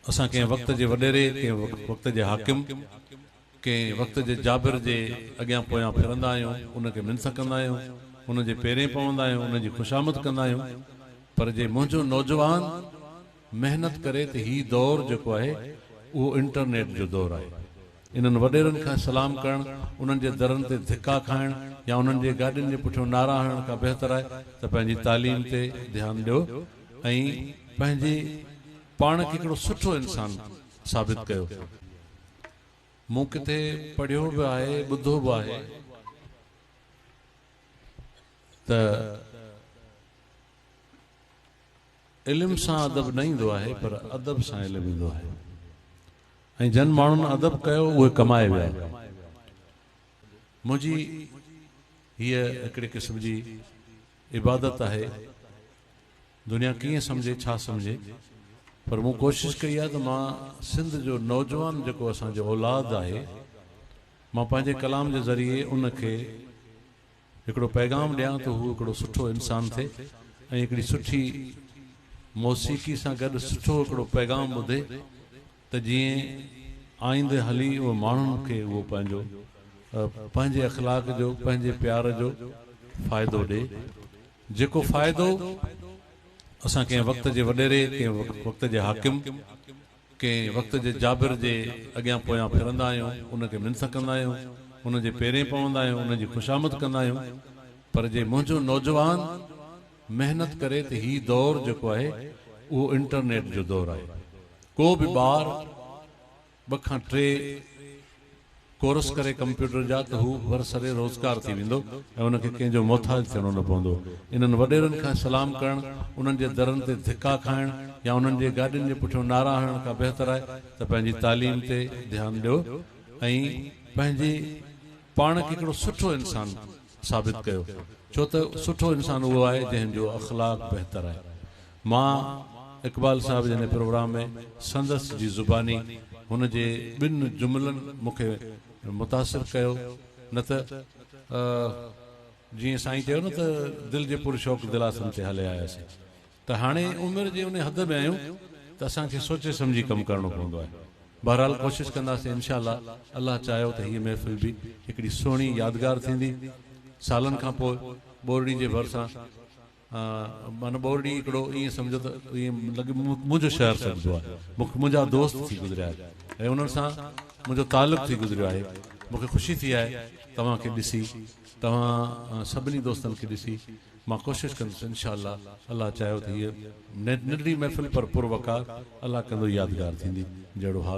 اسان ڪنهن وقت جي وڏيري، ڪنهن وقت جي حاڪم، ڪنهن وقت جي جابر جي اڳيان پويان ڦرندا آهيون، ان کي منٿ ڪندا آهيون، ان جي پيرين پوندا آهيون، ان جي خوشامد ڪندا آهيون، پر جي منهنجو نوجوان محنت ڪري ته هي دور جيڪو آهي اهو انٽرنيٽ جو دور آهي. انهن وڏيرن کان سلام ڪرڻ، انهن جي درن تي ڌڪا کائڻ يا انهن جي گاڏين جي پٺيون نعرا هڻڻ کان بهتر آهي ته پنهنجي تعليم تي ڌيان ڏيو. ۽ پنهنجي پاڻ کي هڪڙو سٺو انسان ثابت ڪيو ويو. مون ڪٿي پڙهيو به آهي ٻڌو به آهي ته علم سان ادب نه ايندو آهي پر ادب سان علم ايندو آهي ۽ جن ماڻهن ادب ڪيو اهي ڪمائي ويا. منهنجي هيء هڪڙي قسم جي عبادت آهي دنيا ڪيئن سمجهي ڇا سمجهي پر مون ڪوشش ڪئي آهي ته مان سنڌ جو نوجوان جيڪو اسان جو اولاد آهي مان پنهنجي ڪلام جي ذريعي ان کي هڪڙو پيغام ڏيان ته هو هڪڙو سٺو انسان ٿئي ۽ هڪڙي سٺي موسيقي سان گڏ سٺو هڪڙو پيغام ٻڌي ته جيئن آئيندي هلي اهي ماڻهن کي اهو پنهنجو پنهنجي اخلاق جو پنهنجي پيار جو فائدو ڏي جيڪو فائدو اسان ڪنهن وقت جي وڏيري ڪنهن وقت جي حاڪم ڪنهن وقت جي جابر جي اڳيان پويان ڦرندا آهيون ان کي منٿ ڪندا آهيون ان جي پيرين پوندا آهيون ان جي خوشامد ڪندا آهيون پر جي منهنجو نوجوان محنت ڪري ته هي دور جيڪو آهي اهو انٽرنيٽ جو دور آهي ڪو به ٻار ٻه کان ٽي ڪورس ڪري ڪمپيوٽر جا ته هو برسر روزگار ٿي ويندو ۽ ان کي ڪنهن جو محتاج ٿيڻو نه پوندو انهن وڏيرن کان سلام ڪرڻ انهن جي درن تي ڌڪا کائڻ يا انهن جي گاڏين جي پٺيون نعرا هڻڻ کان بهتر آهي ته پنهنجي تعليم تي ڌيان ڏيو ۽ پنهنجي پاڻ کي هڪڙو سٺو انسان ثابت ڪيو ڇو ته سٺو انسان اهو آهي جنهن جو اخلاق بهتر آهي مان اقبال صاحب جن پروگرام ۾ سندس جي زباني هن جي ٻن جملن مون کي متاثر ڪيو نه ته جيئن سائين چيو نه ته دل جي پر شوق دلاسن تي هلي آياسين ته هاڻي عمر جي ان حد ۾ آهيون ته اسان کي سوچي سمجهي ڪم ڪرڻو پوندو آهي. بهرحال ڪوشش ڪنداسين انشاء الله الله چاهيو ته هيء محفل به هڪڙي سهڻي يادگار ٿيندي. سالن کان پوء ٻورڙي جي ڀرسان معنيٰ ٻورڙي هڪڙو ائين سمجهو ته ائين لڳي منهنجو شهر سڏبو آهي. مون کي منهنجا دوست ٿي گذريا آهن ۽ انهن سان منهنجو تعلق ٿي گذريو آهي. مون کي خوشي ٿي آهي توهان کي ڏسي توهان سڀني دوستن کي ڏسي مان ڪوشش ڪندس انشاء الله الله چاهيو ته هيء ننڍڙي محفل پر پر وقار الله ڪندو يادگار ٿيندي جهڙو حال